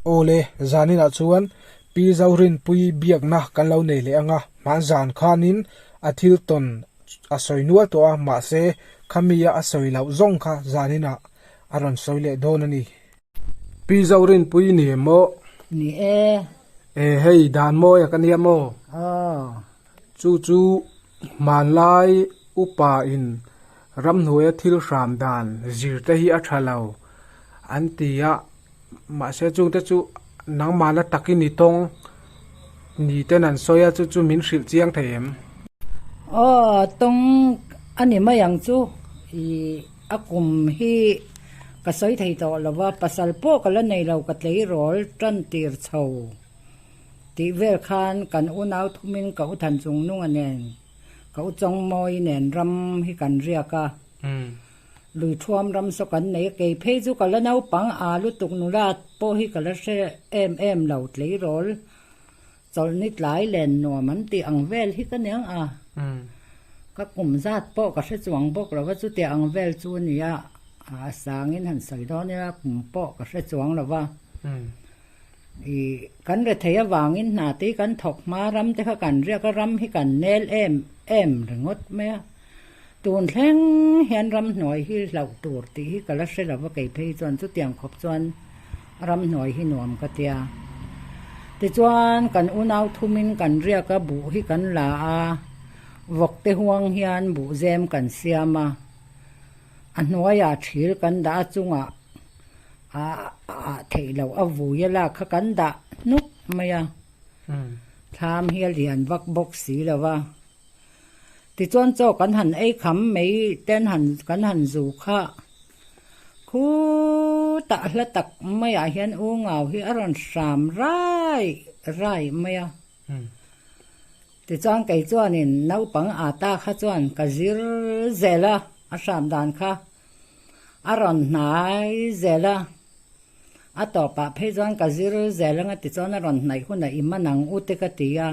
Awle, zaninah chuan Pi Zorinpuii biakna kan lo nei leh anga hman zan khanin a thil tawn a sawi nual tawh a, mahse khamia a sawi loh zawng kha zaninah a rawn sawi leh dawn a ni. Pi Zorinpuii ni em maw? Ni e. E, hei dan mawia ka nia maw? Aw. Chu chu hmanlai upa in ramhnuaia thil hram dan zirte hi a tha lo an ti a. Mahse chungte chu nangmahna tak i ni tawng ni ten an sawi a, chu chu min hrilh chiang thei em? Aw, tawng a ni mai ang chu. Ih, a kum hi ka sawi thei tawh lo va, pasal pawh ka la nei lo ka tleirawl tan tir chho tih vel khan kan unau thumin ka u Thanchungnunga nen, ka u Chawngmawi nen ram hi kan riak a. Lui thuam ram saw kan nei a, kei phei chu ka la naupang aa lutuk nula pawh hi ka la hre em em lo, tleirawl chawlh ni tlai len nuam an tih ang vel hi ka niang a, ka kum zat pawh ka hre chuang bawk lo va, chutia ang vel chu a ni a, a sangin han sawi dawn ila kum pawh ka hre chuang lo va. I kan rethei avangin hna tei kan thawk hma ramte kha kan riak a, ram hi kan nel em em ringawt mai a. Tun thleng hian ramhnuai hi hlauh tur tih hi ka la hre lo va, kei phei hi chuan chutiang khawp chuan ramhnuai hi nuam ka tia. Tichuan kan unau thumin kan riak a, buh hi kan la a, vawkte huang hian buh zem kan siam a, a hnuaia thil kan dah a chungah A ah theih loh a vuia la kha kan dah hnup mai a, thlam hi a lian vak bawk si lo va. Tichuan chaw kan han ei kham mai ten han kan han zu kha khu tah hla tak mai ah hian U Ngau hi a rawn hram raih raih mai a. Tichuan kei chuan in naupang ata kha chuan ka zir zel a, a hram dan kha. A rawn hnai zel a, a tawpah phei chuan ka zir zel ang a ti chuan a rawn hnaih hunah i man ang u te ka ti a.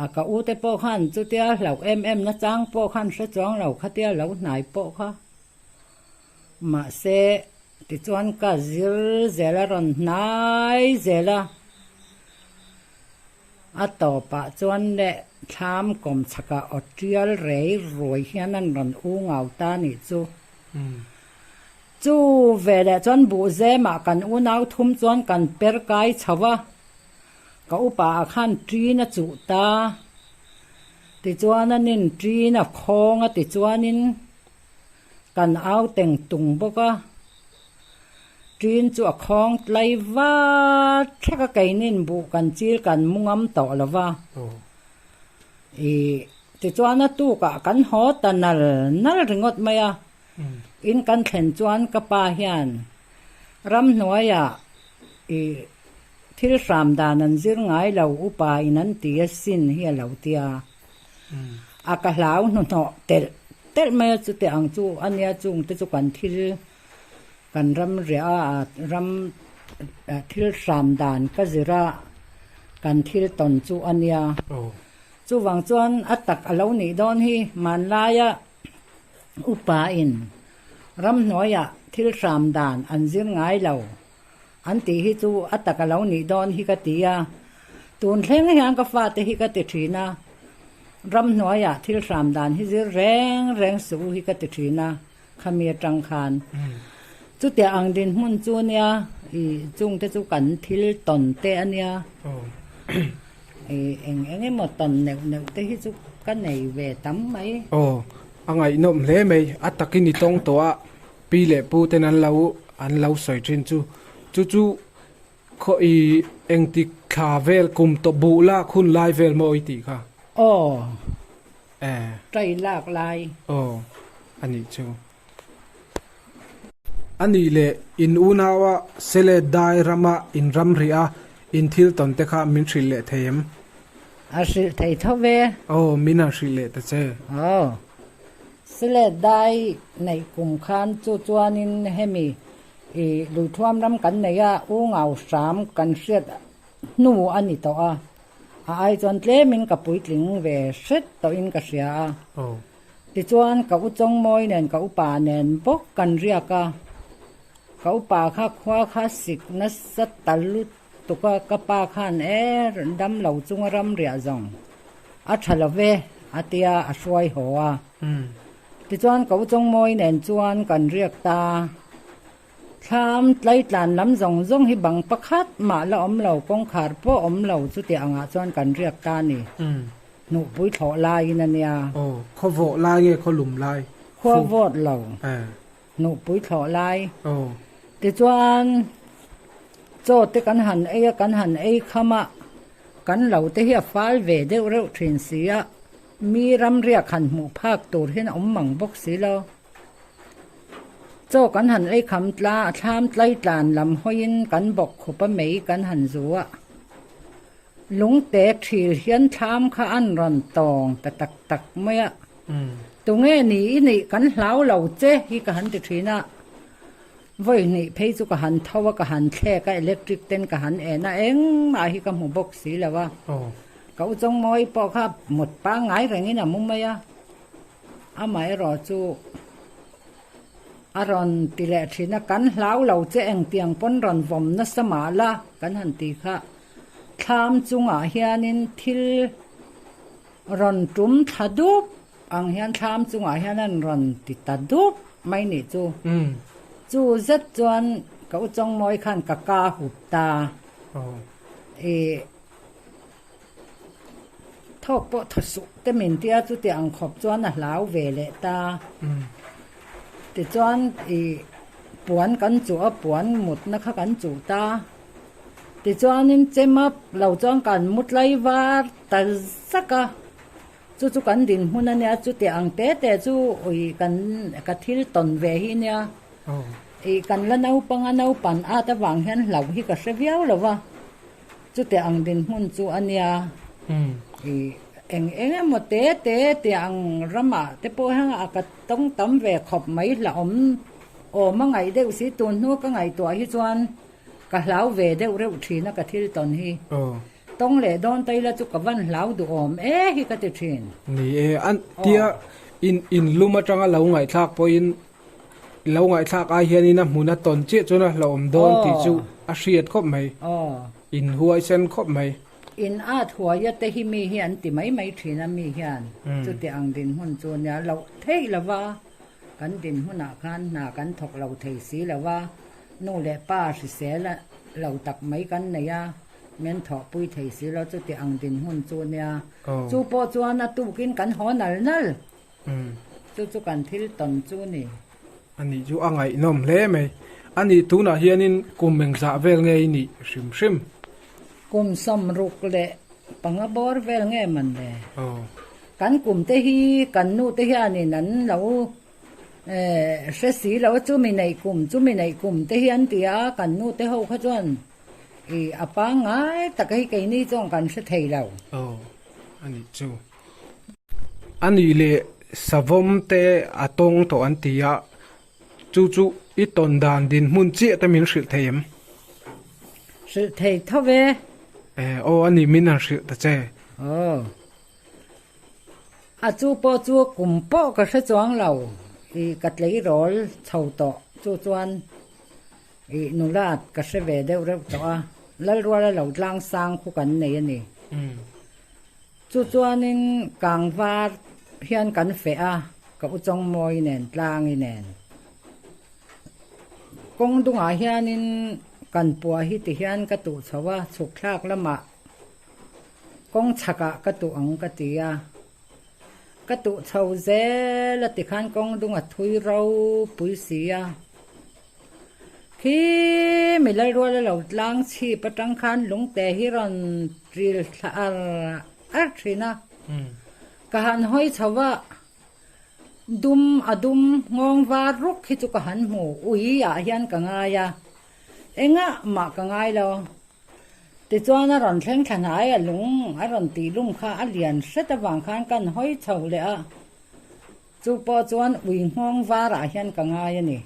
A ka u te pawh khan chutia hlauh em em na chang pawh khan hre chuang lo khatia a lo hnai pawh kha. Mahse ti chuan ka zir zel a rawn hnai zel a. A tawpah chuan neh thlam kawm chhaka awt tial rei ruai hian an rawn u ngau ta nih chu. Chu ve leh chuan buhzema kan unau thum chuan kan per kai chho a, ka upa ah khan ṭin a chuh ta tichuan an in ṭin a khawng a tichuanin kan au teng tung bawk a, Ṭin chu a khawng tlai va, thlek a kei nin buh kan chil kan mu ngam tawh lo va. I tichuan a tukah kan haw ta nal nal ringawt mai a. In kan thlen chuan ka pa hian ram hnuaiah i thil hram dan an zir ngai lo upa in an ti asin hi a lo tia. A ka hlau hnuhnawh telh telh mai a, chute ang chu a nia chung te chu kan thil kan ram ria a, ram thil hram dan ka zir a, kan thil tawn chu a nia. Chuvang chuan a tak a lo nih dawn hi, hmanlaia upa in ramhnuaia thil hram dan an zir ngai lo An tih hi chu a tak a lo nih dawn hi ka ti a, tun thleng hian ka fa te hi ka ti thin a, ram hnuaiah thil hram dan hi zir reng reng suh u hi ka ti thin a, khami atang khan. Chutia ang dinhmun chu a nia, i chung te chu kan thil tawn te a nia, i eng eng emaw tawn neuh neuh te hi chu ka nei ve tam mai. Aw, a ngaihnawm hle mai, a tak i ni tawng tawh a, Pi leh pu ten an lo an lo sawi thin chu chu chu khaw i engti thla vel kum tawh buh lak hun lai vel maw i tih kha. Aw. Eh. Try lak lai. Aw a nih chu. A nih le in unau a Sele dai ram a in ram rih a in thil tawn te kha min hrilh leh thei em? A hrilh thei tho ve. Aw min a hrilh leh ta che. Aw. Slate dai neih kum khan chu chuanin hemi ih lui thuam ram kan nei a U Ngau Hram kan hriat hnu a ni tawh a, a ai chuan tlemin ka puitling ve hret tawhin ka hria a, tichuan ka U Chawngmawi nen ka upa nen bawk kan riak a, ka upa kha khua kha sik nasa ta lut Tuka ka pa khan er damlo chunga ram riah zawng a tha love a tia a hruai haw a. Tichuan ko Chawngmawi nen chuan kan riak ta, thlam tlaitlan lam zawng zawng hi bang pakhat mah la awm lo, kawngkhar pawh awm lo chuti angah chuan kan riak ta a ni. Hnuhpui thlawh laiin a nia. Aw, khaw vawh lai nge khaw lum lai? Khaw vawt lo. Hnupui thlawh lai. Tichuan chaw te kan han ei a, kan han ei kham a, kan lo te hi a fal ve deuh reuh thin si a, mi ram riak han hmuh phak tur hian a awm mang bawk si lo. Chaw kan han ei kham tla, thlam tlai tlan lam hawiin kan bawk khupa mei kan han zu a, lungte thil hian thlam kha an rawn tawng ta tak tak mai a. Tunge ni i neih kan hlau lo che hi ka han ti thin a, vawi hneih phei chu ka han tho a, ka han thlek a, electric ten ka han en a, engmah hi ka hmu bawk si lo a, ka u Chawngmawi pawh kha mut pangngai rengin a mu mai a, amaherawh chu a rawn ti leh thin a, kan hlau lo che engtiang pawn rawn vawm nasa mah la kan han ti kha, thlam chungah hianin thil. Rawn tum tha dup ang hian thlam chungah hian an rawn ti ta dup mai nih chu. Chu zet chuan ka u Chawngmawi khan ka ka hup ta. I thawk pawh tha suh te min ti a, chutiah ang khawp chuan a hlau ve leh ta. Tichuan i puan kan chuh a, puan mutna kha kan chuh ta. Tichuanin che map lo chuan kan mut lai var. Tal zak a, chu chu kan dinhmun a nia, chutiah ang te te chu ui kan ka thil tawn ve hi nia, ih kan la naupanga naupan ata vang hian hlauh hi ka hre viau lo va, chutiah ang dinhmun chu a nia, ih eng eng emaw te te tiah ang rama te pawh hian a ka tawng tam ve khawp mai hla awm awma ngaih deuh si, tunhnua ka ngaihtuah hi chuan ka hlau ve deuh reuh thin a ka thil tawn hi. Tawng leh dawn ta ila chu ka van hlau duh awm e hi ka ti thin. Ni e, a tia in in lum atanga lo ngaihthlak pawhin i lo ngaihthlak ai hianin a hmuna tawn chiah chuan a hlawm dawn tih chu a hriat khawp mai, in huaisen khawp mai. In a thuai a te hi mi hi an ti mai mai thin a mi hian chuti ang dinhmun chu nia loh theih lo va, kan dinhmunah khan hna kan thawk lo thei si lo va, nu leh pa hrisel a lo tak mai kan nei a. Min thawhpui thei si lo, chuti ang dinhmun chu nia. Chu pawh chuan a tukin kan haw nal nal. Chu chu kan thil tawn chu ni. A nih chu a ngaihnawm hle mai. A nih tunah hianin kum engzah vel nge i nih hrim hrim? Kum sawm ruk leh panga bawr vel nge man le? Kan kum te hi kan nu te hianin an lo hre si lo. Chu mi neih kum, chu mi neih kum te hi an ti a, kan nu te ho kha chuan. I a pangngai tak hi keini chuan kan hre thei lo. Aw, a nih chu. A nih leh, savawm te a tawng tawh an ti a, chu chu i tawn dan dinhmun chiah te min hrilh thei em? Hrilh thei tho ve. E, aw a nih min an hrilh ta che. Aw, a chu pawh chu kum pawh ka hre chuang lo. I ka tleirawl chho tawh, chu chuan I nula ka hre ve deuh reuh tawh a, Lalrual a lo tlang sang khu kan nei a ni. Chu chuanin kang var hian kan feh a, ka u Chawngmawi nen tlangi nen. Kawng dungah hianin kan puah hi ti hian ka tuh chho a, chhukthlak lamah kawng chhakah ka tuh ang ka ti a. Ka tuh chho zel a tikhan kawng dunga thui ropui si a. Hi mi Lalruala lo tlang chhip atang khan lungte hi rawn ṭil thla ar ar ṭhin a, ka han hawi chho a, dum a dum nghawng var ruk hi chu ka han hmu, ui ah hian ka ngai a, engah mah ka ngai lo. Tichuan a rawn thleng thla hnai a lung a rawn tih lum kha a lian hret avang khan ka han hawi chho leh a. Chu pawh chuan ui nghawng varah hian ka ngai a ni.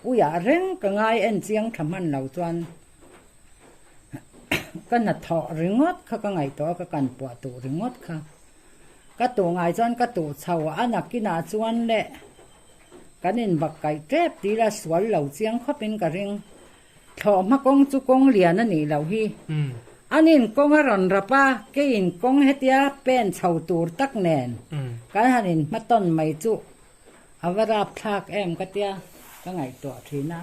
Uiah reng ka ngai en chiang tha hman lo chuan ka hnathawh ringawt kha ka ngaihtuah a, ka kan puah tuh ringawt kha. Ka tuh ngai chuan ka tuh chho a nakinah chuan le kan inbak kaih tep tila sual lo chiang khawpin ka ring. Thlawhhma kawng chu kawng lian a nih loh hi an in kawng a rawn rap a, kei in kawng hetia pen chho tur tak nen kan han in hmatawn mai chu a va rap thlak em ka tia ka ngaihtuah thin a.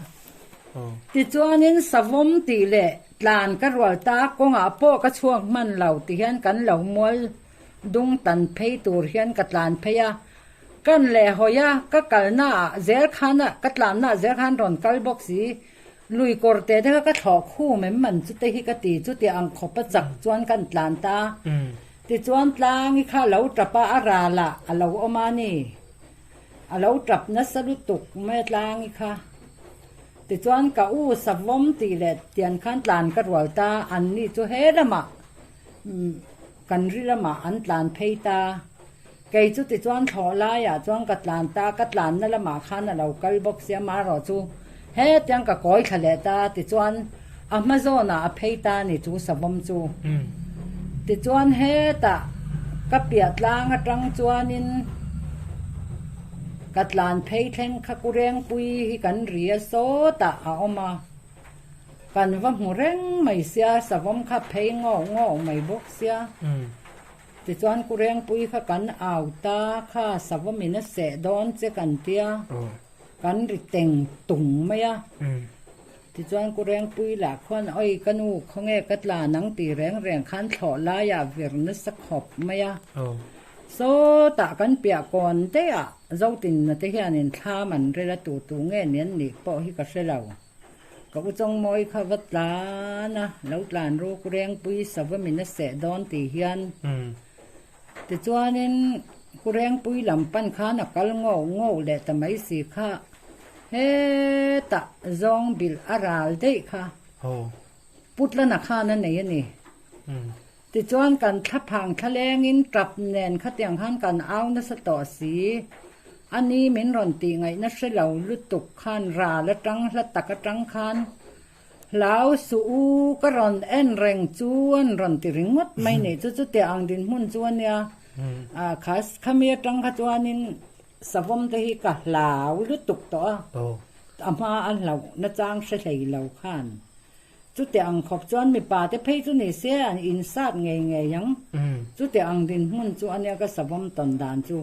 Tichuanin savawm tih leh tlan ka rual ta kawngah pawh ka chhuak hman lo ti hian kan lo mual Dung tan phei tur hian ka tlan phei a, kan leh hawi a, ka kalna ah zel khan a, ka tlanna ah zel khan rawn kal bawk si, lui kawr te te kha ka thlawh khum em man chu te hi ka ti, chuti ang khawp a chak chuan kan tlan ta a, tichuan tlangi kha lo tap a, a ral ah a lo awm a ni, a lo tap nasa lutuk mai a tlangi kha, tichuan ka u Savom tih leh tian khan tlan ka rual ta, anni chu he lamah kan ri lamah an tlan phei ta, kei chu tichuan thlawh laiah chuan ka tlan ta, ka tlanna lamah khan a lo kal bawk sia marawh chu hetiang ka kawi thla leh ta tichuan a hma zawnah a phei ta a ni chu savawm chu, tichuan hetah ka piah tlang atang chuanin ka tlan phei thleng kha Kurengpui hi kan ria sawtah a awm a. Kan va hmu reng mai sia, savawm kha phei ngawh ngawh mai bawk sia. Tichuan Kurengpuii kha kan au ta kha savawm in a seh dawn che kan ti a, kan ri teng tung mai a. Tichuan Kurengpuii lah khuan Awi ka nu, khawnge ka tla nang ti reng reng khan thlawh laiah vir nasa khawp mai a. Sawtah kan piah kawn daih ah Zotinna te hianin thlam an rel a tu tu nge ni an nih pawh hi ka hre lo. Ka u Chawngmawi kha va tlan a, lo tlan ru ku Rengpui sava min a seh dawn ti hian. Tichuanin ku Rengpui lam pan khan a kal ngauh ngauh leh ta mai si kha hetah Zawngbil a ral daih kha Putlana khan a nei a ni. Tichuan kan thlaphang thlalengin tap nen khatiang khan kan au nasa tawh a si. Ani min rawn tih ngaihna hre lo lutuk khan ral atang hla tak atang khan, Hlau suh u, ka rawn en reng chu an rawn ti ringawt mai nih chu chutiah ang dinhmun chu a nia. Khas khami atang kha chuanin savawm te hi ka hlau lutuk tawh a, a hma a hlauh nachang hre hlei lo khan. Chutiah ang khawp chuan mipa te phei chu ni se an in sat ngei ngei ang. Chutiah ang dinhmun chu ania ka savawm tawn dan chu.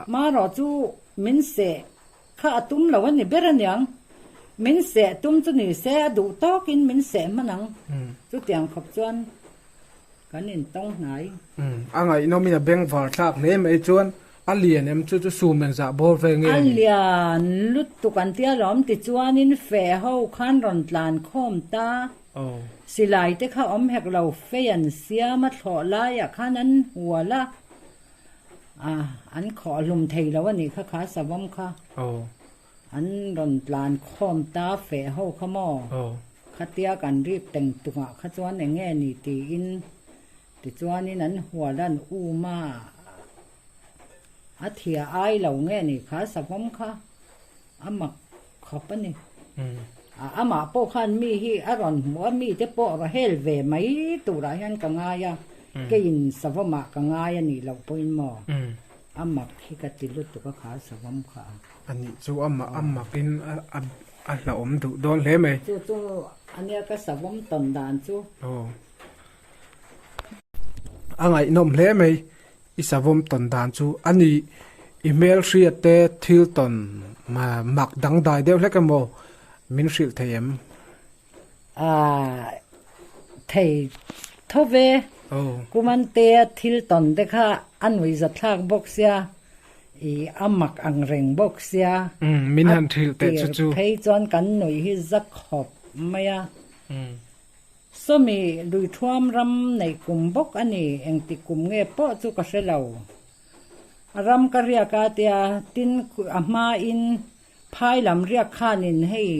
Marawh chu min seh kha a tum lo a ni ber a niang. Min seh tum chu ni se a duh tawk in min seh hman ang. Chutiang khawp chuan kan in tawng hnai. A ngaihnawm in a beng var thlak hle mai chuan A lian em chu chu sum eng zah bawr ve nge a ni? A lian lutuk an ti alawm tichuanin fe ho khan rawn tlan khawm ta. Silai te kha awm hek lo fe an siam a thlawh laiah khan an hual a, an khawh hlum thei lo a nih kha kha savam kha. An rawn tlan khawm ta fe ho kha maw? Khatia kan rip teng tungah kha chuan eng nge ni tiin tichuanin an hual an um a, a thia ai lo nge ni kha savawm kha a mak khawp a ni. A amah pawh khan mi hi a rawn hmu a, mite pawh a va hel ve mai turah hian ka ngai a, keiin savawmah ka ngai a nih loh pawhin maw a mak hi ka ti lutuk a kha savawm kha a. A nih chu amah a mak in a hlahawm duh dawn hle mai. Chu chu ania ka savawm tawn dan chu. Aw. A ngaihnawm hle mai i savawm tawn dan chu. A nih i hmel hriat te thil tawn mak dangdai deuh hlek emaw min hrilh thei em? A thei thawp e. Kumantea thil tawn te kha a nui za thlak bawk sia, i a mak ang reng bawk sia. Min han hril teh chu chu. A tir phei chuan kan nuih hi za khawp mai a. Sawmi lui thuam ram nei kum bawk a ni, engti kum nge pawh chu ka hre lo. A ram ka riak a tia, tin a hmain. Phai lam riak khanin hei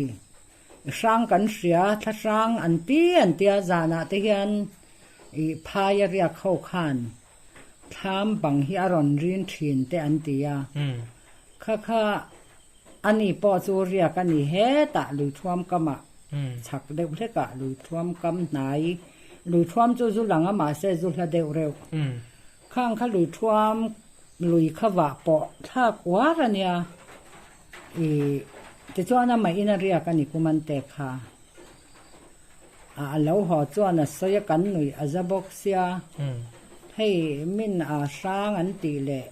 hrang kan hria, thlahrang an ti an ti a, zanah te hian i phai a riak ho khan thlam bang hi a rawn rin thin te an ti a, kha kha ani pawh chu riak a ni hetah lui thuam kama chhak deuh hlekah lui thuam kam hnai, lui thuam chu zu lang a mahse zu hla deuh reuh. Khang kha lui thuam lui kha vah pawh thlak uar a nia i tichuan a maihin a riak a ni kuman te kha a a lo haw chuan a sawi a kan nuih a za bawk sia hei min a hrang an tih leh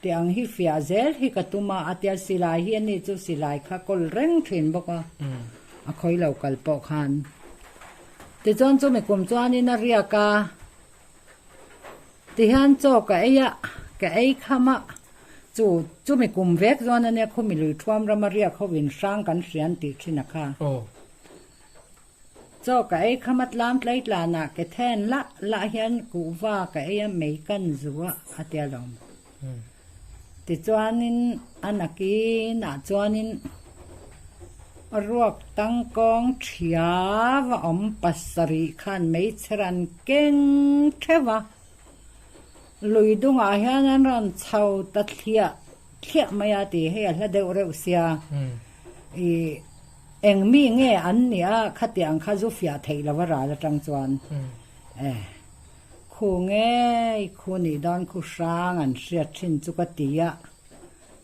ti ang hi fiah zel hi ka tum a a tia silai hi a ni chu silai kha kawl reng thin bawk a a khawi lo kal pawh khan tichuan chumi kum chuan in a riak a Tihian chaw ka ei a, ka ei kham a, chu chumi kum vek chuan ania khumi lui thuam rama riak ho in hrang kan hria an tih thin a kha. Chaw ka ei kham a tlam tlai tlan ah ketheng lah lah hian kuhva ka ei a mei kan zu a, a ti alawm. Tichuanin a nakinah chuanin ruak tang kawng thiau a awm pasarih khan hmeichhe ra'n keng theuh a, lui dungah hian an ra'n chho ta thliah thliah mai a ti hei a hla deuh reuh sia, i eng mi nge an nia khatiang kha zu fiah theih lo a ral atang chuan. Khu ngei khu nih dawn khu hrang an hriat thin chu ka ti a,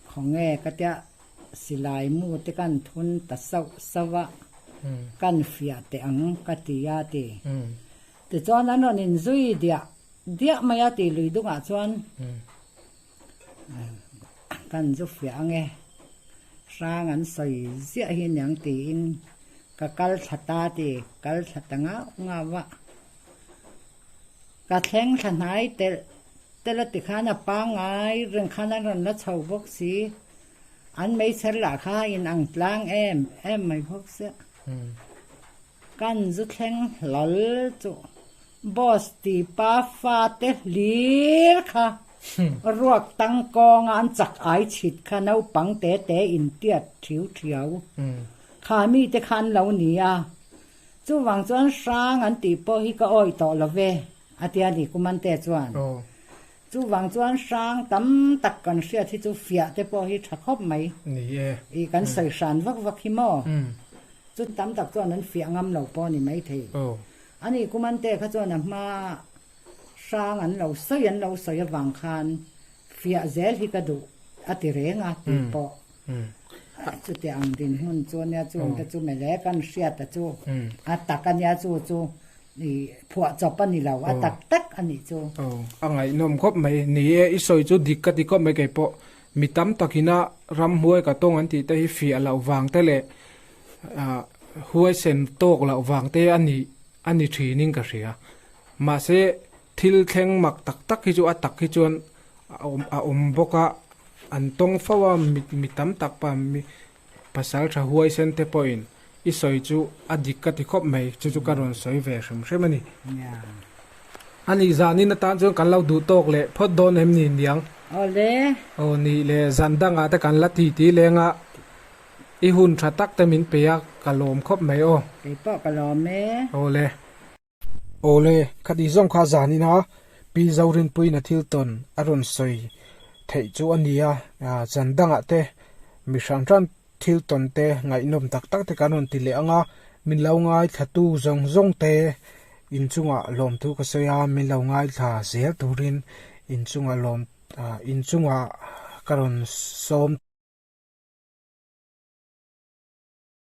khaw nge ka tia silai mu te kan thun ta sauh sauh a, kan fiah teh ang ka ti a ti. Tichuan an rawn inzui diah diah mai a ti lui dungah chuan. Ka inzu fiah ang e, hrang an sawi ziah hi niang tiin ka kal thla ta ti kal thla ta ngauh ngauh a. Ka thleng thla hnai telh telh a tikhan a pangngai reng khan an rawn la chho bawk si. An meichher lah kha inang tlang em em mai bawk sia. Ka inzu thleng hlal chu boss tipa fate hlir kha. Hum. Ruak tang kawnga an chak ai chhit kha naupang te te in tiat thiu thiau kha mi te kha an lo ni a, chuvang chuan hrang an tih pawh hi ka awih tawh love a ti a ni Kumante chuan. Chuvang chuan hrang tam tak kan hriat hi chu fiah te pawh hi tha khawp mai ni e, i kan sawi hran vak vak hi maw? Chu tam tak chuan an fiah ngam lo pawh a ni maithei a ni Kumante kha chuan a hma hrang an lo sawi an lo sawi avang khan fiah zel hi ka duh a ti reng a tih pawh chutiang ang dinhmun chu ania chung te chu mele kan hriat a chu a tak ania chu chu i phuah chawp a ni lo a tak tak a nih chu. Aw a ngaihnawm khawp mai ni e i sawi chu dik ka ti khawp mai kei pawh mi tam tak ina ram huai ka tawng an tih te hi fiah loh vang te leh huaisen tawk loh vang te a ni a ni thin in ka hria Mahse, thil thleng mak tak tak hi chu a tak hi chuan a awm bawk a, an tawng fo a, mi tam tak pa mi pasal tha huaisen te pawhin i sawi chu a dik ka ti khawp mai, chu chu ka rawn sawi ve hrem hrem a ni. Anih zanin atan chuan kan lo duh tawk leh phawt dawn em ni niang? Awle. Aw nih le, zan dangah te kan la ti ti leng a, i hun tha tak te min peih a, ka lawm khawp mai aw. Kei pawh ka lawm e. Awle. Awle, khati zawng kha zan ina Pi Zorinpuina thil tawn a rawn sawi theih chu a ni a. Zan dangah te mi hran hran thil tawn te ngaihnawm tak tak te kan rawn ti leh ang a, min lo ngaithlatu zawng zawng te inchungah lawmtu ka sawi a, min lo ngaithla zel turin inchungah lawm inchungah ka rawn sawm.